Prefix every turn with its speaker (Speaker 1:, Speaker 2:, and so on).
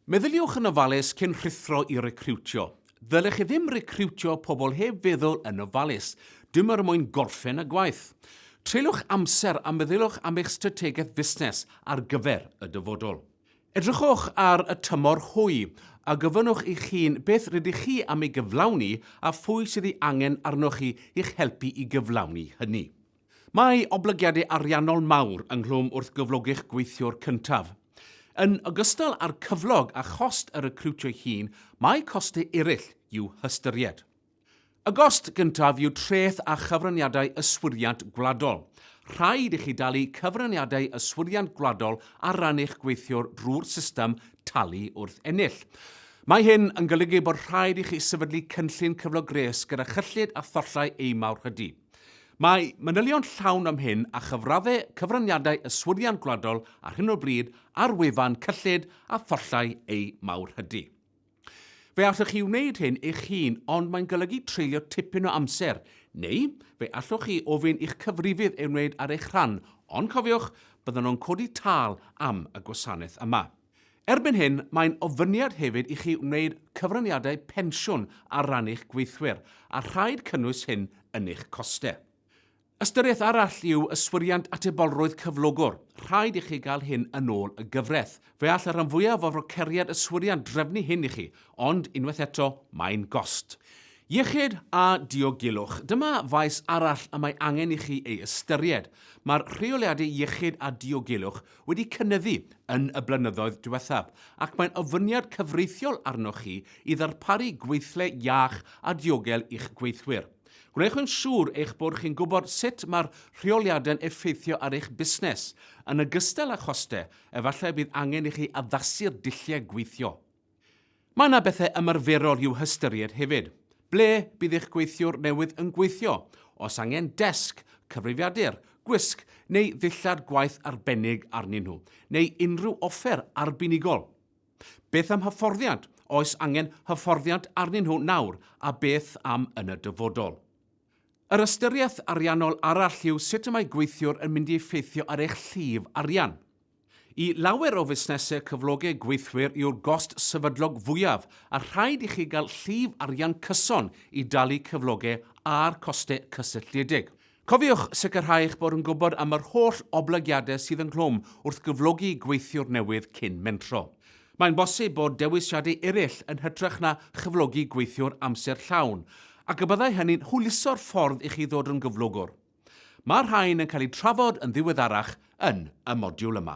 Speaker 1: Meddyliwch yn ofalus cyn rhuthro i recriwtio. Ddylech chi ddim recriwtio pobl heb feddwl yn ofalus, dim er mwyn gorffen y gwaith. Treuliwch amser a meddyliwch am eich strategaeth fusnes ar gyfer y dyfodol. Edrychwch ar y tymor hwy a gofynnwch eich hun beth rydych chi am ei gyflawni a phwy sydd ei angen arnoch chi i'ch helpu i gyflawni hynny. Mae oblygiadau ariannol mawr ynghlwm wrth gyflogi'ch gweithiwr cyntaf. Yn ogystal â'r cyflog a chost y recriwtio'i hun, mae costau eraill i'w hystyried. Y gost gyntaf yw treth a chyfraniadau yswiriant gwladol. Rhaid i chi dalu cyfraniadau yswiriant gwladol ar ran eich gweithiwr drwy'r system talu wrth ennill. Mae hyn yn golygu bod rhaid i chi sefydlu cynllun cyflog gwres gyda chyllid a thollau eu mawrhydi. Mae manylion llawn am hyn a chyfraddau cyfraniadau yswiriant gwladol ar hyn o bryd ar wefan cyllid a thollau eu mawrhydi. Fe allwch chi wneud hyn eich hun ond mae'n golygu treulio tipyn o amser, neu fe allwch chi ofyn i'ch cyfrifydd ei wneud ar eich rhan, ond cofiwch, byddan nhw'n codi tâl am y gwasanaeth yma. Erbyn hyn, mae'n ofyniad hefyd i chi wneud cyfraniadau pensiwn ar ran eich gweithwyr, a rhaid cynnwys hyn yn eich costau. Ystyriaeth arall yw yswiriant atebolrwydd cyflogwr, rhaid i chi gael hyn yn ôl y gyfraith. Fe all y rhan fwyaf o froceriad yswiriant drefnu hyn i chi, ond, unwaith eto, mae'n gost. Iechyd a diogelwch. Dyma faes arall y mae angen i chi ei ystyried. Mae'r rheoliadau iechyd a diogelwch wedi cynyddu yn y blynyddoedd diwethaf ac mae'n ofyniad cyfreithiol arnoch chi i ddarparu gweithle iach a diogel i'ch gweithwyr. Gwnewch yn siŵr eich bod chi'n gwybod sut mae'r rheoliadau'n effeithio ar eich busnes, yn ogystal â chostau, efallai y bydd angen i chi addasu'r dulliau gweithio. Mae yna bethau ymarferol i'w hystyried hefyd. Ble bydd eich gweithiwr newydd yn gweithio? Oes angen desg, cyfrifiadur, gwisg neu ddillad gwaith arbennig arnyn nhw, neu unrhyw offer arbenigol? Beth am hyfforddiant, oes angen hyfforddiant arnyn nhw nawr a beth am yn y dyfodol? Yr ystyriaeth ariannol arall yw sut y mae gweithiwr yn mynd i effeithio ar eich llif arian. I lawer o fusnesau cyflogau gweithwyr yw'r gost sefydlog fwyaf a rhaid i chi gael llif arian cyson i dalu cyflogau a'r costau cysylltiedig. Cofiwch sicrhau eich bod yn gwybod am yr holl oblygiadau sydd ynghlwm wrth gyflogi gweithiwr newydd cyn mentro. Mae'n bosib bod dewisiadau eraill yn hytrach na chyflogi gweithiwr amser llawn, ac y byddai hynny'n hwyluso'r ffordd i chi ddod yn gyflogwr. Mae'r rhain yn cael eu trafod yn ddiweddarach yn y modiwl yma.